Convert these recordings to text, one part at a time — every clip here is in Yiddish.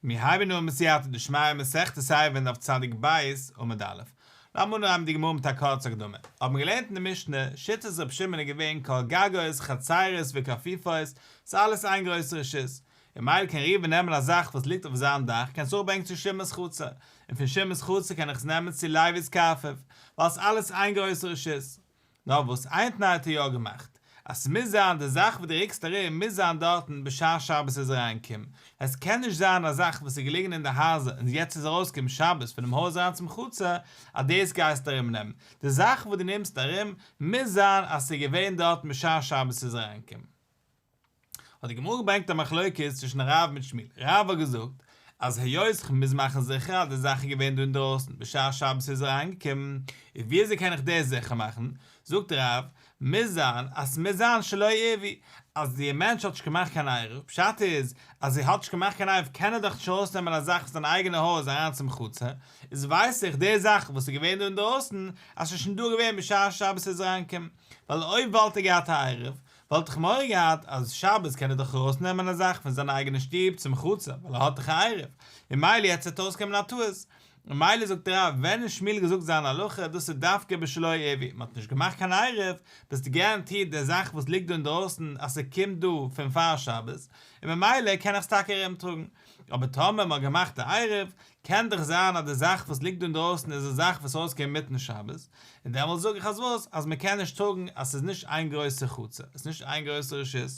מיר הייבן אן מיט סייעתא דשמיא מסכת סייוון דף צדיק ב' עמוד א'. לאמיר אנהייבן די גמרא מיט א קורצע הקדמה. האט מען געלערנט אין די משנה, שיטת רבי שמעון איז געווען כל גגות, חצרות וקפיפות, ס'איז אלעס איין גרויסע רשות. און מילא קען ראובן נעמען א זאך וואס ליגט אויף זיין דאך, קען עס אראפברענגען צו שמעון'ס חצר, און פון שמעון'ס חצר קען איך עס נעמען צו לייבי'ס קארפעוו, ווייל ס'איז אלעס איין גרויסע רשות. נאר וואס איין תנאי האט ער יא געמאכט, אז ס'מוז זיין די זאך וואס דו רוקסט ארום מוז זיין דארטן בשעת שבת איז אריינגעקומען, עס קען נישט זיין א זאך וואס איז געליגן אין די הייזער און יעצט איז ארויסגעקומען שבת פונעם הויז אריין צום חצר אז דאס גייסטו ארומנעמען, די זאך וואס דו נעמסט ארום מוז זיין אז ס'איז געווען דארטן בשעת שבת איז אריינגעקומען. האט די גמרא געברענגט א מחלוקת צווישן רב מיט שמואל, רב האט געזאגט אז היות כ'מוז מאכן זיכער אז די זאך איז געווען דא אינדרויסן בשעת שבת איז ער אריינגעקומען, איז ווי אזוי קען איך דאס זיכער מאכן? זאגט רב, מוז זיין אז ס'מוז זיין שלא ערבי, אז די מענטש האט נישט געמאכט קיין עירוב, פשט איז אז ער האט נישט געמאכט קיין עירוב קען ער דאך נישט ארויסנעמען א זאך פון זיין אייגענע הויז אריין צום חצר, איז ווייס איך די זאך וואס איז געווען דא אינדרויסן אז ס'איז שוין דא געווען בשעת שבת איז ער אריינגעקומען, ווייל אויב וואלט ער געהאט א עירוב וואלט איך מורא געהאט אז שבת קען ער דאך ארויס נעמען א זאך פון זיין אייגענע שטוב צום חצר ווייל ער האט דאך א עירוב און מילא יעצט זעט אויס קען מען א טעות און מילא זאגט דער רב ווען איז שמואל געזאגט זיין הלכה דאס איז דווקא בשלא עירוב מען האט נישט געמאכט קיין עירוב ביסט געראנטירט די זאך וואס ליגט דא אינדרויסן אז ס'קומט דא פון פאר שבת און ממילא קען איך עס טאקע ארומטראגן אבער טאמער מען האט געמאכט א עירוב קען דאך זיין אז די זאך וואס ליגט דא אינדרויסן איז די זאך וואס ארויסקומען אינמיטן שבת, און דעמאלטס זאג איך אז וואס? אז מען קען נישט זאגן אז ס'איז נישט איין גרויסע חצר, עס איז נישט איין גרויסע רשות?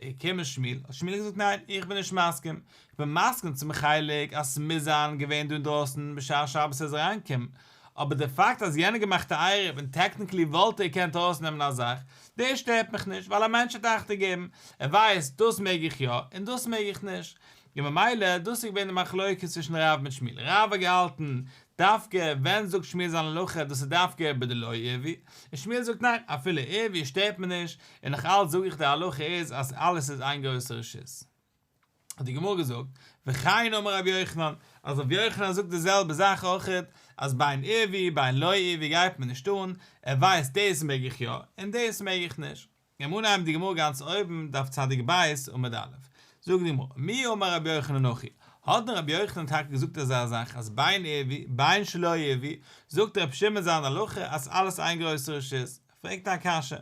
איך קום מיט שמואל, האט שמואל געזאגט ניין, איך בין נישט מסכים, איך בין מסכים צום חלק אז ס'מוז זיין געווען דא אינדרויסן בשעת שבת ער איז אריינגעקומען, אבער די פאקט אז יענער האט געמאכט א עירוב און טעקניקלי וואלט ער געקענט ארויסנעמען א זאך, דאס שטערט מיך נישט, ווייל א מענטש האט אכטונג געגעבן, ער ווייסט דאס מעג איך יא און דאס מעג איך נישט, און ממילא דאס איז געווען די מחלוקת צווישן רב מיט שמואל, רב האט געהאלטן דווקא ווען זאגט שמואל זיין הלכה דאס איז דווקא ביי די לא עברי, און שמואל זאגט ניין אפילו עברי שטערט מיר נישט, און נאך אלץ זאג איך די הלכה איז אז אלעס איז איין גרויסע רשות. האט די גמרא געזאגט, וכן אמר רבי יוחנן, אז רבי יוחנן זאגט די זעלבע זאך אויכעט, אז ביי אן עברי ביי אן לא עברי גייט מען נישט אן, ער ווייסט דאס מעג איך יא, און דאס מעג איך נישט. געבן אנהייב די גמרא גאנץ אויבן דף צדיק ב' עמוד א', זאגט די גמרא, מי אמר רבי יוחנן נוחי, האט דען רבי יוחנן טאקע געזאגט אזא זאך אז בין ערבי בין שלא ערבי, זאגט רבי שמעון זיין הלכה אז אלעס איין גרויסע רשות, פרעגט ער א קשיא,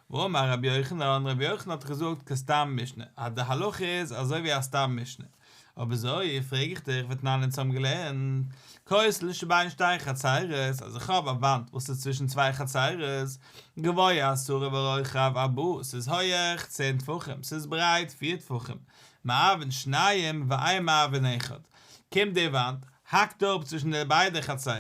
ואמר רבי יוחנן, רבי יוחנן האט דאך געזאגט כסתם משנה, אז די הלכה איז אזוי ווי א סתם משנה. אויב אזוי פרעג איך דיך ותנן אונז האבן געלערנט כוס לשתי בין שתי חצרות אז איך האב א וואנט וואס איז צווישן צוויי חצרות גבוה עשרה ורוחב ארבעה ס'איז הויעך צען טפחים ס'איז ברייט פיר טפחים מערבין שניים ואין מערבין אחד קומט די וואנט האקט אפ צווישן די ביידע חצרות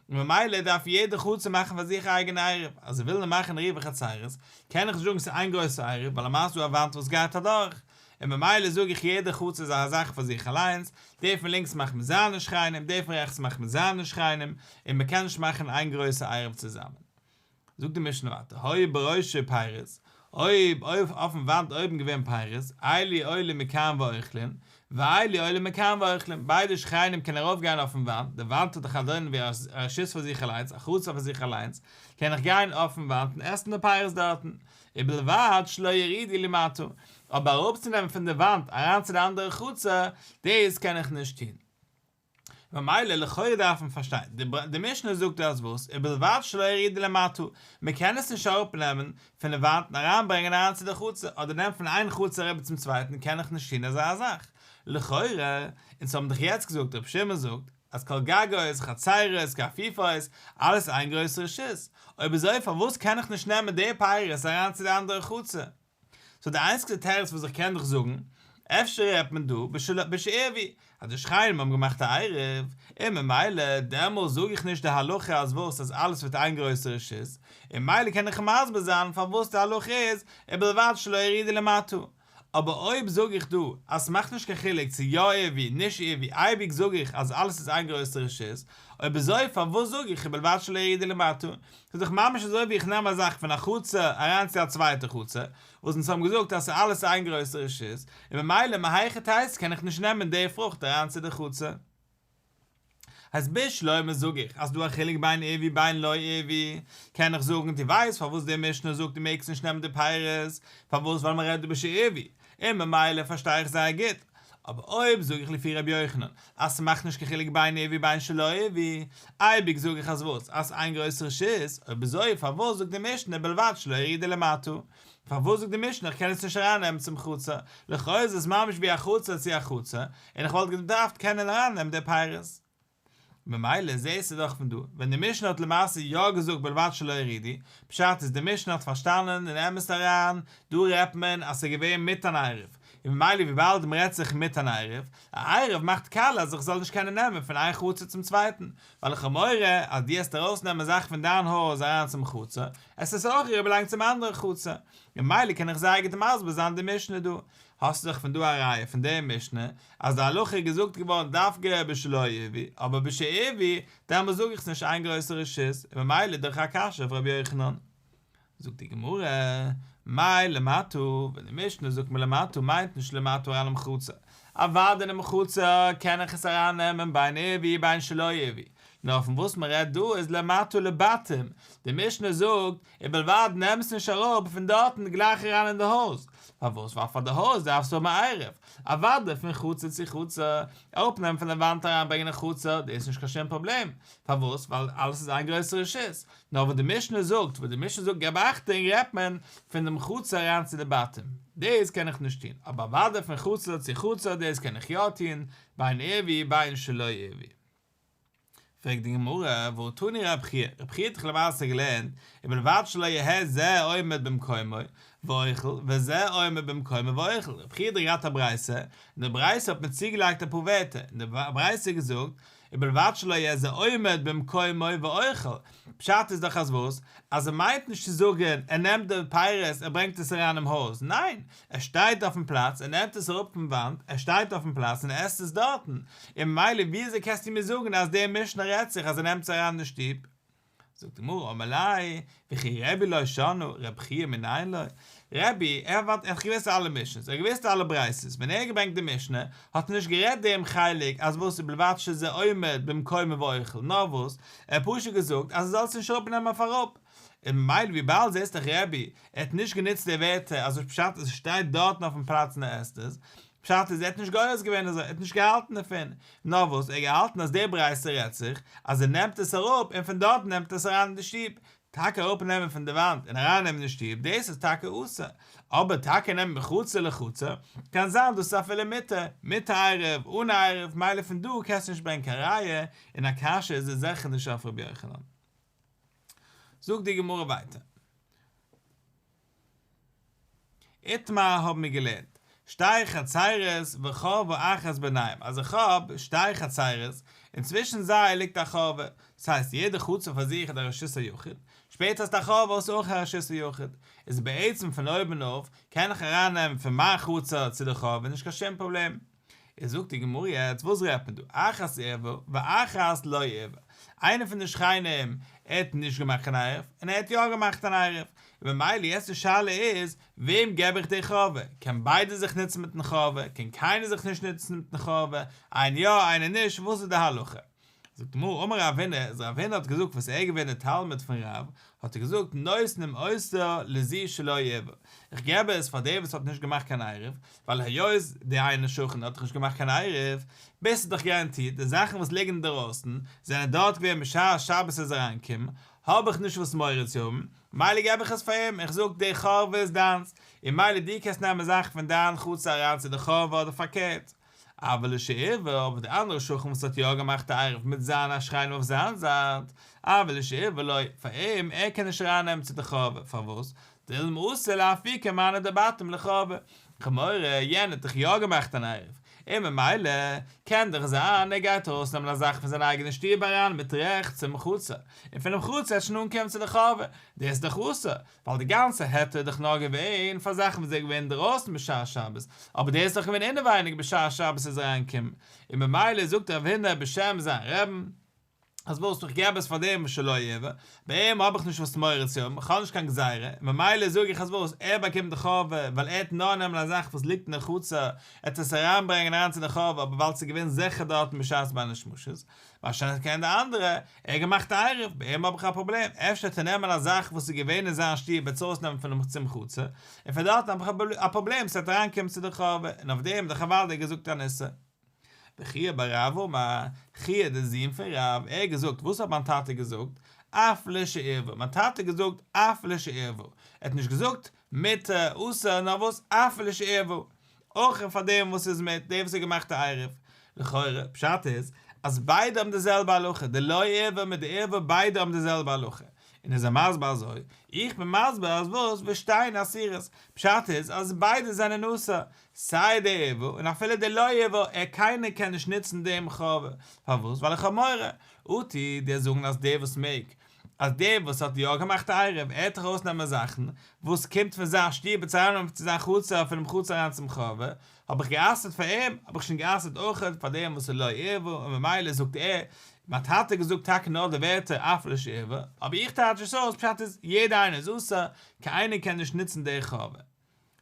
און ממילא דארף יעדע חצר מאכן פאר זיך א אייגענע עירוב אז איך וויל נאר מאכן עירוב חצרות קען איך נישט זאגן ס'איז איין גרויסע עירוב ווייל למעשה איז דא א וואנט וואס גייט אדורך און ממילא זאג איך יעדע חו צ איז א זאך פאר זיך אליינס, די פון לינקס מאכט מען זיינע שכנים, די פון רעכטס מאכט מען זיינע שכנים, און מען קען נישט מאכן איין גרויסע עירוב צוזאמען. זאגט די משנה ווייטער, היו בראשי פיירות, אויב אויף אויפן וואנט אויבן געווען פיירות, איילי עולים מכאן ואוכלין, ואיילי עולים מכאן ואוכלין, ביידע שכנים קען ארויף גיין אויפן וואנט, די וואנט האט דאך א דאונען ווי א רשות פאר זיך אליינס, א חו צ פאר זיך אליינס, קען איך גיין אויפן וואנט און עסן די פיירות דארטן, ובלבד שלא יריד היא למטה, אבער אראפצונעמען פון די וואנט אריין צו די אנדערע חצר, דאס קען איך נישט טון. ממילא לכאורה דארף מען פארשטיין, די משנה זאגט אז וואס? ובלבד שלא יריד היא למטה, מען קען עס נישט אראפנעמען פון די וואנט און אריינברענגען אריין צו די חצר, אדער נעמען פון איין חצר אריבער צום צווייטן קען איך נישט טון אזא זאך. לכאורה, אונז האבן דאך יעצט געזאגט ר' שמעון זאגט, אז כל גגות, חצרות, קאפיפאוס, אלעס איז איין גרויס רשעות, אויב אזוי פארוואס קען איך נישט נעמען די פייערעס אריין צו די אנדערע חצר? סאו די איינציגסטע תירוץ וואס איך קען דיך זאגן, אפשר רעדט מען דא בשלא בערבי, אז די שכנים האבן געמאכט א עירוב, און ממילא דעמאלס זאג איך נישט די הלכה אז וואס אז אלעס ווערט איין גרויסע רשעות, און מילא קען איך מסביר זיין פארוואס די הלכה איז, ובלבד שלא ירידה למטה. אבער אויב זאג איך דא אז ס'מאכט נישט קיין חילוק צו יא עירבי נישט עירבי אייביג זאג איך אז אלעס איז איין גרויסע רשעות, אויב אזוי פארוואס זאג איך ובלבד שלא ירידה למטה? ס'איז דאך ממש אזוי ווי איך נעם א זאך פון א חצר אריין צו א צווייטע חצר, וואס אונז האבן געזאגט אז ס'אלעס איין גרויסע רשעות, און ממילא מהיכי תיתי קען איך נישט נעמען די פרוכט אריין צו די חצר. הסבר שלמה זאג איך אז דא א חילוק בין ערבי בין לא ערבי, קען איך זאגן דו ווייסט פארוואס די משנה זאגט דו מעגסט נישט נעמען די פירות, פארוואס ווייל מען רעדט דא בשי ערבי, און ממילא פארשטיי איך זייער גוט, אבער אויב זאג איך לפי רבי יוחנן אז ס'מאכט נישט קיין חילוק בין ערבי בין שלא ערבי, אייביג זאג איך אז וואס? אז ס'איין גרויס רשעות, אויב אזוי פארוואס זאגט די משנה בלבד שלא ערעי דלמטה? פארוואס זאגט די משנה איך קען עס נישט ארייננעמען צום חצר? לכאו' איז עס ממש ווי א חצר צו א חצר, און איך וואלט געדארפט קענען ארייננעמען די פירות. ממילא זעהסטו דאך פון דא, ווען די משנה האט למעשה יא געזאגט בלבד שלא הרידי, פשט איז די משנה האט פארשטאנען אין אמת אריין, דא רעדט מען אז ס'איז געווען מיט אן עירוב, און ממילא וויבאלד מ'רעדט זיך מיט אן עירוב, א עירוב מאכט קל אז איך זאל נישט קענען נעמען פון איין חצר צום צווייטן, ווייל לכאורה אז דו העסט ארויסנעמען זאכן פון דיין הויז אריין צום חצר, עס איז אויך אריבער לאנג צום אנדערן חצר, ממילא קען איך זייער גוט מסביר זיין די משנה דא. האסט דאך פון דא א ראיה פון די משנה אז די הלכה איז געזאגט געווארן דווקא בשלא עבי, אבער בשעבי, דעמאלס זאג איך ס'נישט איין גרויסע רשעות, און ממילא איז דאך א קשיא אויף רבי יוחנן. זאגט די גמרא, מאי למטה, ווען די משנה זאגט מלמטה מיינט נישט למטה אינעם חצר, אוודאי אינעם חצר קען איך עס ארייננעמען בין עבי בין שלא עבי, נאר פון וואס מען רעדט דא איז למטה לבתים, די משנה זאגט, ובלבד נעם עס נישט אראפ פון דארטן גלייך אריין אין די הויז, פארוואס ווייל פאר די הויז דארפסטו האבן א עירוב, אוודאי פון חצר צו חצר, אראפנעמען פון די וואנט אריין ברענגען אין חצר דאס איז נישט קיין שום פראבלעם, פארוואס ווייל אלעס איז איין גרויסע רשות, נאר וואס די משנה זאגט, וואס די משנה זאגט געב אכטונג רעדט מען פון דעם חצר אריין צו די בתים, דאס קען איך נישט טון, אבער אוודאי פון חצר צו חצר דאס קען איך יא טון, בין עירובי בין שלא עירובי. פרעגט די גמרא, והוא תני רב חייא, רב חייא האט דאך למעשה געלערנט, ובלבד שלא יהא זה עומד במקומו ואוכל, וזה עומד במקומו ואוכל, רב חייא האט דאך געהאט א ברייתא, און די ברייתא האט מען צוגעלייגט אפאר ווערטער, און די ברייתא האט געזאגט, ובלבד שלא יהא זה עומד במקומו ואוכל, פשט איז דאך אז וואס? אז ער מיינט נישט צו זאגן ער נעמט די פירות ער ברענגט עס אריין אין הויז, ניין! ער שטייט אויפן פלאץ און נעמט עס אראפ פון וואנט, ער שטייט אויפן פלאץ און עסט עס דארטן, און ממילא ווי אזוי קענסטו מיר זאגן אז דער משנה רעדט זיך אז ער נעמט עס אריין אין שטוב? זאגט די גמרא אמר ליה, וכי רבי לא שנו, רבי חייא מנין ליה? רבי, ער האט ווארט ער האט געוואוסט אלע משנות, ער האט געוואוסט אלע ברייתות, ווען ער האט געברענגט די משנה, האט ער נישט גערעדט דעם חלק אז וואס ובלבד שזה עומד במקומו ואוכל, נאר וואס? ער האט פשוט געזאגט אז ער זאל עס נישט אראפנעמען אויף אראפ, און ממילא וויבאלד זי איז דאך רבי, ער האט נישט גענוצט די ווערטער אז וואס פשט אז עס שטייט דארטן אויפן פלאץ און ער עסט עס, פשט איז ער האט נישט גורס געווען אזוי, ער האט נישט געהאלטן דערפון, נאר וואס ער האט געהאלטן אז די ברייתא רעדט זיך אז ער נעמט עס אראפ און פון דארט נעמט ער עס אריין אין די שטוב, טאקע אראפ נעמען פון די וואנט און אריין נעמען אין שטוב דאס איז טאקע אסור, אבער טאקע נעמען מחצר לחצר, קען זיין דאס איז אפילו מותר, מיט עירוב, אן עירוב, מילא פון דא קענסטו נישט ברענגען קיין ראיה, און א קשיא איז עס זיכער נישט אויף רבי יוחנן. זאגט די גמרא ווייטער. איתמר האבן מיר געלערנט. שתי חצרות וחור ואחת ביניהם, אז איך האב שתי חצרות, און צווישן זיי ליגט א חורבה, דאס הייסט יעדע חצר פאר זיך איז א רשות היחיד, שפעטער איז די חורבה אויס אויך א רשות היחיד, איז בעצם פון אויבן אויף קען איך ארייננעמען פון מיין חצר צו די חורבה נישט קיין שום פראבלעם. איז זאגט די גמרא יעצט וואס רעדט מען דא אחת ערווה ואחת לא ערווה, איינע פון די שכנים ער האט נישט געמאכט קיין עירוב און ער האט יא געמאכט אן עירוב, ובמילא יעצט די שאלה איז וועם געב איך די חובה, קען ביידע זיך נוצן מיטן חובה, קען קיינער זיך נישט נוצן מיטן חובה, איינער יא איינער נישט, וואס איז די הלכה? זאגט די גמרא אמר רב הונא אז רב הונא האט געזאגט וואס ער איז געווען די תלמיד פון רב האט ער געזאגט נותנים עושר לזי שלא עבר איך געב עס פאר דער וואס האט נישט געמאכט קיין עירוב ווייל היות די איינע שכן האט דאך נישט געמאכט קיין עירוב ביז ס'איז דאך גאראנטירט די זאכן וואס ליגן אינדערויסן זענען דארט געווען בשעת שבת איז אריינגעקומען האב איך נישט וואס מורא צו האבן מילא געב איך עס פאר אים איך זאג די חרוב איז דיינס און מילא דו קענסט נעמען זאכן פון דיין חצר אריין צו די חרוב אדער פארקערט אבער לשעבר אבער דער אנדערער שכן וואס האט יא געמאכט א עירוב מיט זיין א שכן אויף זיין זייט, אבער לשעבר לא, פאר אים, ער קען נישט אריין נעמען צו די חבר, פארוואס? דילמה אסור להפעיל כמענה דבתים לחבר, כמורא, יענער האט דאך יא געמאכט אן עירוב, און ממילא, קען דאך זיין ער גייט ארויס נעמען א זאך פון זיין אייגענע שטוב אריין מיט רעכט צום חצר, און פונעם חצר עטשן אנקומען צו די חבר, דאס איז דאך אסור, ווייל די גאנצע היתר איז דאך נאר געווען פאר זאכן וואס זענען געווען אינדערויסן בשעת שבת, אבער דאס איז דאך געווען אינעווייניג בשעת שבת איז אריינגעקומען, און ממילא זאגט רב הונא בשם זיין רעבן, אז וואס, איך געב עס פאר דעם וואס שלא יבא, ביי אים האב איך נישט וואס מורא צו האבן, איך האב נישט קיין גזירה, און ממילא זאג איך אז וואס, ער באקומט די חובה, ווייל ער האט נאר נעמען א זאך וואס ליגט אין די חצר, ער האט עס אריינברענגען אריין צו די חובה, אבער ווייל ס'איז געווען זיכער דארטן בשעת בין השמשות, באשעפט קען די אנדערע, ער האט געמאכט א עירוב, ביי אים האב איך א פראבלעם אפשר צו נעמען א זאך וואס איז געווען אין זיין שטוב וועט עס אויסנעמען פון דעם צום חצר, און פון דארטן האב איך א פראבלעם ס'וועט אריינקומען צו די חורבה, און אויף דעם האט דער חב ד'ער געזאגט א נושא. וחייא בר רב אמר, חייא דער זון פון רב, ער האט געזאגט, וואס האט מיין טאטע געזאגט, אף ל שעירבו, מיין טאטע האט געזאגט אף ל שעירבו, ער האט נישט געזאגט מיתה אסור נאר וואס אף ל שעירבו, אויך און פאר דעם וואס איז מיט דער וואס האט געמאכט א עירוב. לכאורה, פשט איז, אז ביידע האבן די זעלבע הלכה, די לא ערבה מיט די ערבה ביידע האבן די זעלבע הלכה. און איז ער מסביר אזוי, איך בין מסביר אז וואס וואס שתיהן אסירות, פשט איז אז ביידע זענען אסור, סיי די ערבה און אפילו די לא ערבה, ער קיינער קען נישט נוצן דעם חרבה, פארוואס? ווייל איך האב מורא, אטי דער זאגן אז דער וואס מעג, אז דער וואס האט יא געמאכט א עירוב, ער העט דאך אויסנעמען זאכן וואס קומט פון זיין שטוב און צו נעמען צו זיין חצר און פונעם חצר אריין צום חורבה, האב איך גע'אסר'ט פאר אים, האב איך שוין גע'אסר'ט אויך פאר דעם וואס איז לא ערבו, און ממילא זאגט ער, מיין טאטע האט געזאגט טאקע נאר די ווערטער אף לא ערבו, אבער איך טייטש עס אויס פשט איז יעדע איינער איז אסור, קיין איינער קען נישט נוצן דער חורבה.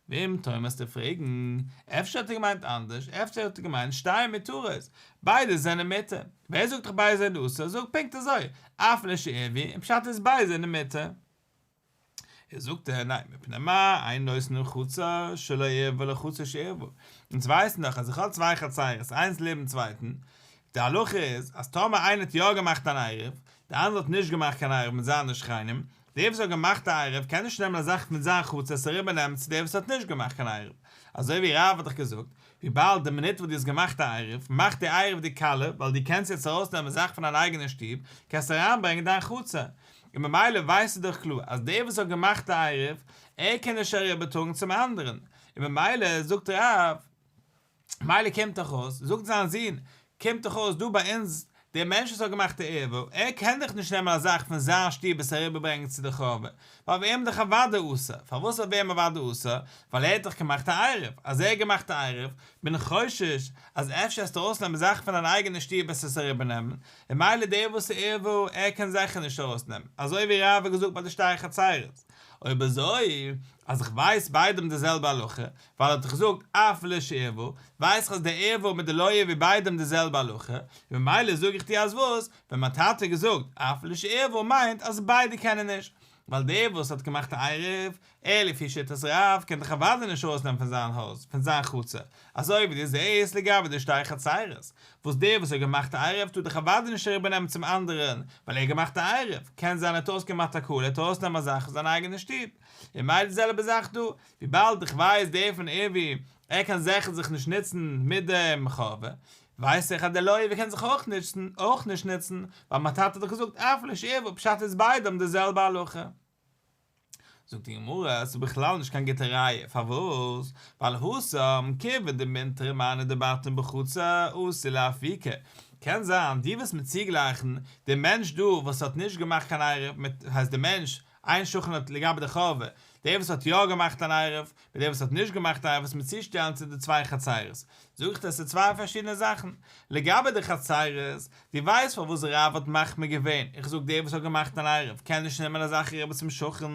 וועם טענה'סטו פרעגן? אפשר האט ער געמיינט אנדערש, אפשר האט ער געמיינט שטייען מיט טרס, ביידע זענען מותר, ווער זאגט דיך ביידע זענען אסור, זאג פונקט אזוי, אף ל ש ער ווי, און פשט איז ביידע זענען מותר. איז זאגט ער, ניין, מפני מה אין נושא לרחצה שלא ערב ולרחצה שערב, אונז ווייסן דאך אז איך האב צוויי חצירות איינס לעבן צווייטן, די הלכה איז אז טאמער איינער האט יא געמאכט אן עירוב, די אנדערע האט נישט געמאכט קיין עירוב מיט זיינע שכנים, דער וואס האט געמאכט א עירוב קען נישט נעמען א זאך פון זיין חוץ עס אריבער נעמען צו דער וואס האט נישט געמאכט קיין עירוב, אזוי ווי רב האט דיך געזאגט, וויבאלד די מינוט וואס דו האסט געמאכט א עירוב מאכט די עירוב די קלה, ווייל דו קענסט יעצט ארויס נעמען זאך פון דיין אייגענע שטוב קענסט אריין ברענגען דיין חצר, און ממילא ווייסטו דאך קלאר אז דער וואס האט געמאכט א עירוב ער קען נישט אריבער טראגן צום אנדערן, און ממילא זאגט רב. מילא קומט דאך אויס, זאגט זיין זון, קומט דאך אויס דא ביי אונז, דער מענטש וואס האט געמאכט די ערווה, ער קען דאך נישט נעמען א זאך פון זיין שטוב עס אריבערברענגען צו די חורבה, ווייל ווער אים דאך אוודאי אסור, פארוואס זאל ווער אים אוודאי אסור, ווייל ער האט דאך געמאכט א עירוב, אז ער האט געמאכט א עירוב, בין חושש אז אפשר עסטו ארויסנעמען זאכן פון דיין אייגענע שטוב עס עס אריבערנעמען, ומילא דער וואס איז ערווה, ער קען זיכער נישט ארויסנעמען, אזוי ווי רב האט געזאגט ביי די שטרי חצרות, אויב אזוי, אז איך ווייס ביידעם די זעלבע הלכה, ווייל ער האט דאך געזאגט אף ל ש ערבו, ווייס איך אז די ערבו מיט די לויה איז ווי ביידעם די זעלבע הלכה, און ממילא זאג איך דיר אז וואס ווען מיין טאטע האט געזאגט אף ל ש ערבו מיינט אז ביידע קענען נישט, ווייל דער וואס האט געמאכט א עירוב, ער לפי שיטת רב קען דאך אוודאי נישט ארויסנעמען פון זיין הויז, פון זיין חצר, אזוי ווי דו זעהסט לגבי די שתי חצרות, וואס דער וואס האט געמאכט א עירוב טאר דאך אוודאי נישט אריבער נעמען צום אנדערען ווייל ער האט געמאכט א עירוב, קען זיין ער האט אויסגעמאכט א כלל ער טאר ארויסנעמען א זאך פון זיין אייגענע שטוב, און ממילא די זעלבע זאך דא, וויבאלד איך ווייס דערפון ערווי ער קען זעכער זיך נישט נוצן מיט דעם חובה, ווייס איך אז דער לויער קען זיך אויך נוצן, אויך נישט נוצן, ווייל מיין טאטע האט דאך געזאגט אף לש ערוו, פשט איז ביידע האבן די זעלבע הלכה. זאגט די גמרא, עס איז בכלל נישט קיין גוטע ראיה, פארוואס? ווייל הוסא אמ ק ווען די מינטרא מיינע די בתים בחוץ א אסור לאפי' ק, קען זיין דו ווילסט מיר צוגלייכן די מענטש דא וואס האט נישט געמאכט קיין עירוב מיט, הייסט די מענטש איין שכן האט לגבי די חורבה, דער וואס האט יא געמאכט אן עירוב, מיט דער וואס האט נישט געמאכט א עירוב מיט צושטעלן צו די צוויי חצרות, זאג איך דאס איז צוויי פארשידענע זאכן, לגבי די חצרות, דו ווייסט פארוואס רב האט מחמיר געווען, איך זאג דער וואס האט געמאכט אן עירוב קען נישט נעמען אזאך עירובות צום שכן,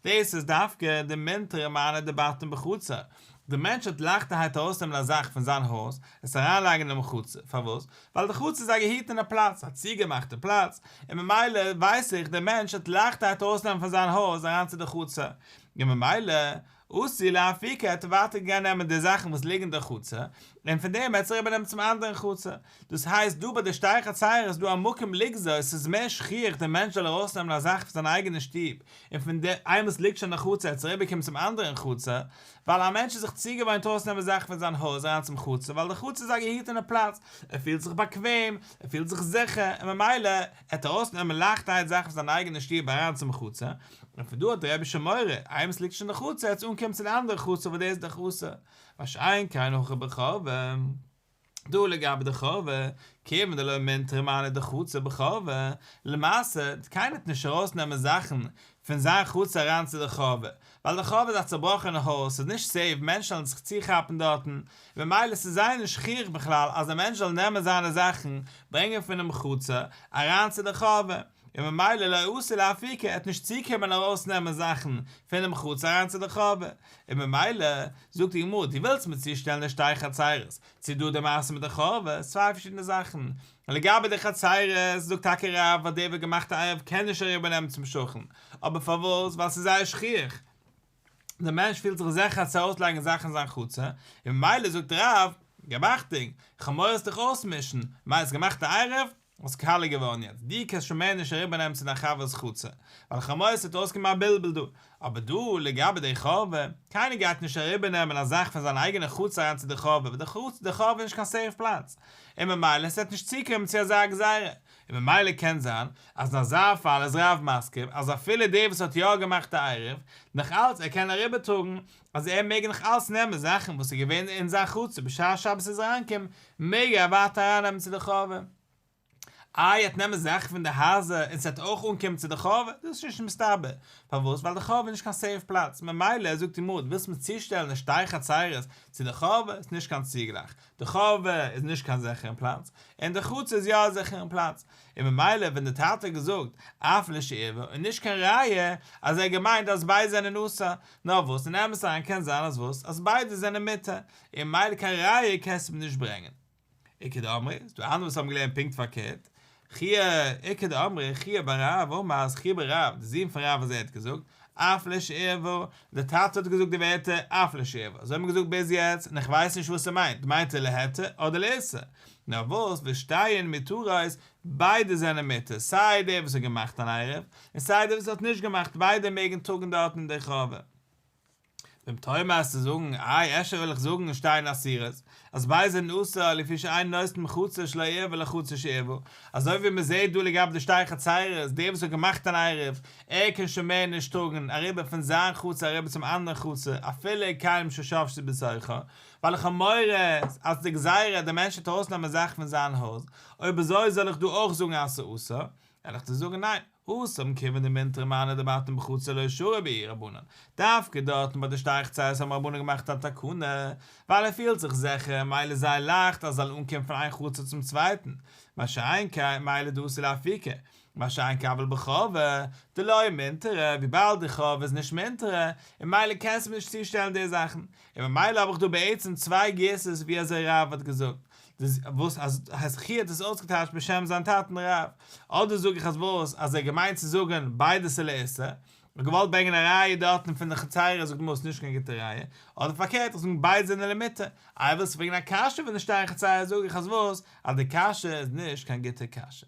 דאס איז דווקא די מינטערע מיינע דעבאטן בחצר, דער מענטש האט לייכטערהייט ארויסנעמען א זאך פון זיין הויז, עס אריינלייגן אין די מחוצה. פארוואס? ווייל די חצר איז א געהיטענע פלאץ, א צוגעמאכטע פלאץ, און ממילא ווייס איך דער מענטש האט לייכטערהייט ארויסנעמען פון זיין הויז אריין צו די חצר, און ממילא אסור להפיקה, ער האט ווייטער געגאנגען נעמען די זאכן וואס ליגן אין די חצר, און פון דעם האט זיך איבערנעמען צום אנדערן חצר. דאס הייסט דא ביי די שטייכע צייער איז דא א מקום לגזור, עס איז מער שכיח דער מענטש זאל ארויסנעמען א זאך פון זיין אייגענע שטוב, און פון די איינמאל עס ליגט שוין אין חצר עס אריבער קומען צום אנדערען חצר, ווייל א מענטש איז זיך צוגעוואוינט ארויסנעמען זאכן פון זיין הויז אריין צום חצר ווייל די חצר איז א געהיטענע פלאץ, ער פילט זיך באקוועם, ער פילט זיך זיכער, און ממילא עט ער ארויסנעמען לייכטערהייט זאכן פון זיין אייגענע שטוב אריין צום חצר, און פון דא האט דער רבישע מורא איינמאל עס ליגט שוין אין חצר עטס אנקומען צו די אנדערע חצר וואס דאס איז די חצר, מה שאין כן הויכע ברחבה. דא לגבי די חוה, כיוון דלא מינד תרמנה דחצר בחוה, למעשה, קיינער טוט נישט ארויס נעמען זאכן פון זיין חצר אריין צו די חוה, ווייל די חוה איז א צובראכענע הויז, ס'איז נישט סעיף, מענטשן וועלן זיך צוכאפן דארטן, ממילא ס'איז זייער נישט שכיח בכלל אז א מענטש זאל נעמען זיינע זאכן, ברענגען פונעם חצר, אריין צו די חוה. און ממילא לא יאסור להפיקה, ער האט נישט צוקומען ארויס נעמען זאכן פונעם חצר אריין צו די חורבה, און ממילא, זאגט די גמרא, דו ווילסט מיר צושטעלן די שתי חצרות, צו דא די מעשה מיט די חורבה, איז צוויי פארשידענע זאכן, לגבי די חצרות, זאגט טאקע רב אז דער וואס האט געמאכט א ערב קען נישט אריבער נעמען צום שכן, אבער פארוואס, ווייל ס'איז זייער שכיח, דער מענטש פילט זיך זעכער צו ארויס לייגן זאכן אין זיין חצר, און ממילא זאגט רב, געמאכט דינג, כ'האב מורא עס דיך אויסמישן, ממילא האסט געמאכט א ערב, האסט קאלער געווארן יעצט, דו קענסט שוין מער נישט אריבער נעמען צו דיין חבר'ס חצר, ווייל כ'מאס ס'וועט אויסקומען א בלבול דא, אבער דא לגבי די חבר, קיינער גייט נישט אריבער נעמען א זאך פון זיין אייגענע חצר אריין צו די חבר, ווען די חצר די חבר איז נישט קיין סעיף פלאץ, און ממילא ס'וועט נישט צוקומען צו אזא גזירה, און ממילא קען זיין אז אין אזא פאל איז רב מסכים אז אפילו דער וואס האט יא געמאכט א עירוב, נאך אלץ ער קען אריבער טראגן, אז ער מעג נאך אלץ נעמען זאכן וואס איז געווען אין זיין חצר בשעת שבת איז אריינגעקומען, מעג ער ווייטער ארייננעמען צו די חורבה. איי ער האט נעמען זאכן פון די הייזער און ס'וועט אויך אנקומען צו די חורבה? דאס איז נישט מסתבר, פארוואס? ווייל די חורבה איז נישט קיין סעיף פלאץ, ממילא זאגט די גמרא דו ווילסט מיר צושטעלן די שתי חצרות צו די חורבה איז נישט קיין צוגלייך, די חורבה איז נישט קיין זיכערן פלאץ, און די חצר איז יא א זיכערן פלאץ, און ממילא ווען די טאטע האט געזאגט אף לשעבר איז נישט קיין ראיה אז ער האט געמיינט אז ביידע זענען אסור, נאר וואס אין אמת אריין קען זיין אז וואס אז ביידע זענען מותר און מילא קיין ראיה קענסטו מיר נישט ברענגען. איכא דאמרי, ס'איז דא אנדערע וואס האבן געלערנט פונקט פארקערט, חי' איכא דאמרי חי' בר רב אמר אז חי' בר רב דער זון פון רב אז ער האט געזאגט אף לשעבר, דער טאטע האט געזאגט די ווערטער אף לשעבר, אזוי האט מען געזאגט ביז יעצט און איך ווייס נישט וואס ער מיינט, מיינט ער להתיר אדער לאיסור? נאר וואס ווער שטייען מותרות ביידע זענען מותר, סיי דער וואס האט געמאכט אן עירוב, און סיי דער וואס האט נישט געמאכט, ביידע מעגן טראגן דארטן אין דער חורבה. ואם תאמר האסטו זאגן, איי אפשר וועל איך זאגן און שטיין אסירות, אז ביידע זענען אסור לפי שאין נושט מחוצה שלא עירב אלא חוצה שעירבו, אזוי ווי מען זעט דא לגבי די שתי חצרות, דער וואס האט געמאכט אן עירוב, ער קען שוין מער נישט טראגן אריבער פון זיין חצר אריבער צום אנדערן חצר, אפילו ער קיים ששבשי בצרכו, ווייל איך האב מורא אז די גזירה אז דער מענטש וועט ארויסנעמען זאכן פון זיין הויז, אויב אזוי זאל איך דא אויך זאגן אז ס'אסור? וועל איך דיר זאגן ניין, האסט מכיוון די מינטרא מענה דבעתן בחוץ זה לא ישורר בעיר רבנן, דווקא דארטן ביי די שטייכצייס האבן רבנן געמאכט א תקנה, ווייל ער פילט זיך זיכער, מילא איז זייער לייכט אז זאל אנקומען פון איין חצר צום צווייטן, מה שאין כן, מילא דאסי לאפיקי, מה שאין כן אבל בחובה, דלא יהיה מינטרא, וויבאלד די חובה איז נישט מינטרא, און מילא קענסטו מיר נישט צושטעלן די זאכן, און ממילא האב איך דא בעצם צוויי גירסות ווי אזוי רב האט געזאגט, דאס וואס אז חזקי האט עס אויסגעטייטשט בשם זיין טאטן רב, אדער זאג איך אז וואס אז ער האט געמיינט צו זאגן ביידע ס'איז לאיסור, און געוואלט ברענגען א ראיה דארטן פון די חצירה זאגט מ'איז נישט קיין גוטע ראיה, אדער פארקערט איך זאגן ביידע זענען למיתה, איי ווילסט פרעגן א קשיא וואס נישטא אין חצירה זאג איך אז וואס אז די קשיא איז נישט קיין גוטע קשיא.